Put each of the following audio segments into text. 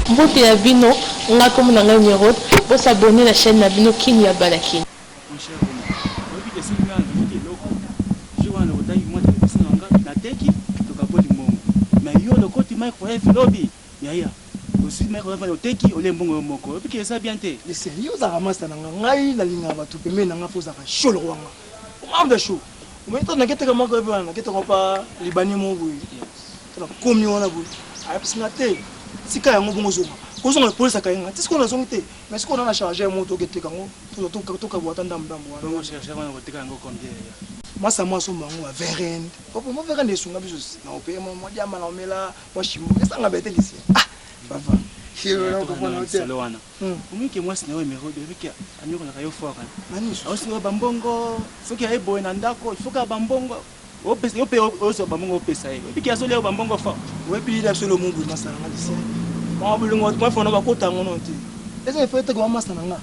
Mbote ya bino nga kombo na ngai Merode bo s'abonner na chaine na bino kin ya bana kin. Mon cher Roma, oyebi que soki ngai nabimaki eloko, jour wana nakotaki mua television na nga, nateki, tokaboli mbongo. Mais yo olokoti microwave lobi, yaya, ozui microwave wana oteki olie mbongo yo moko. Oyebi que eza bien te. Listen, yo ozalaka masta na nga, ngai nalingaka batu pembeni na nga po ozalaka show lokola nga. Omar the show. Omoni tango nake teka microwave wana, nake teka epa libanais moko boye. Tala komi wana boye ayebisi nga te tika yango bongo zonga kozonga police akaye nga ti sikoyo nazongi te mais sikoyo nana charge ya moto oke teka yango tozwa tokabwa ata ndambu ndambu wana bongo charge wana koteka yango combien yaya masa mwa asomba yango ba verend opo mwa verend esunga biso na ope mwa mwa diamba na omela mwa shimo esanga bete lisi ah papa solo wana omike mwasi na yo emerode ebiki anyokolaka yo fort nani aosinga bambongo soki aye boye na ndako ifoka bambongo Opesa yo pe ozwa ba mbongo opesa ye. Oyebi ke azo lia yo ba mbongo fort. Oyebi ye na solo mubi masta na nga Lucien. Mawa bolingo bato mafana ba kota yango no te. Eza il faut eteka ba masta na nga.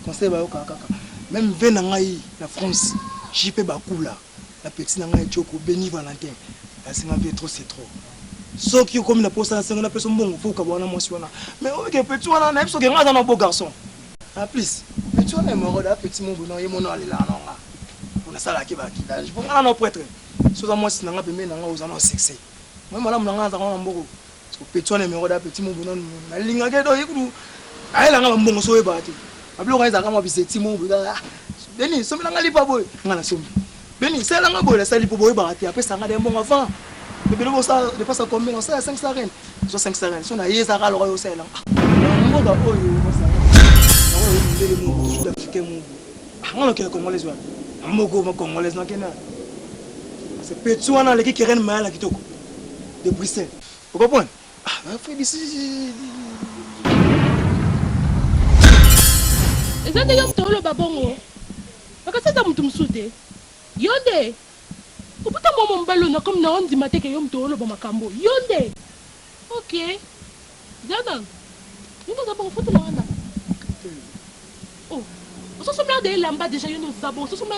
Conseil ba yokaka kaka. Meme vie na ngai na France JP Bakula na petit na ngai Tshoko Beni Valentin ba senga vie trop c'est trop. Soki okomi na posa na sengo na pesa yo mbongo faut okabwana na mwasi wana. Mais oyebi ke petit wana na yebi soki nga aza na beau garçon. En plus petit wana hemorroide a petit mobu non ye mona alelaka na nga pona salaka ke ba kidage po nga na no pretre si oza mwasi na nga pembeni na nga oza no succès moyen malamu na nga naza na mboko so petit wana hemorroide a petit mobu non na linga ke do ye kutu ayela nga ba mbongo so oyebaka te ba biloko ezalaka mwa bizeti mobu ah Denis sombela nga lipa boye nga na sombi Beni sala nga boye nasali po boyebaka te apesa nga de mbongo avant bebe lobo sa depasa combien osala 500 ren zwa 500 ren so naye eza kaka loka yo osalela nga ah, mboka oyo ozala nakoyo mindele moko sud africain moko ah, nga nokende congolaise wana ah, moko ma congolaise nakende se petsu wana aleki keren maya na kitoko de bruxelles okopona ah, fredisi eza nde yo moto oloba bongo Makasi eza mutu mususu te yonde obuta muama mobali oyo nakomi nao ndima te ke yo mutu oloba makambu oyo yonde ok zela nanu yonde oza bongo fotela nga ndako oh ozo somela dejà elamba dejà yonde oza bongo ozo somela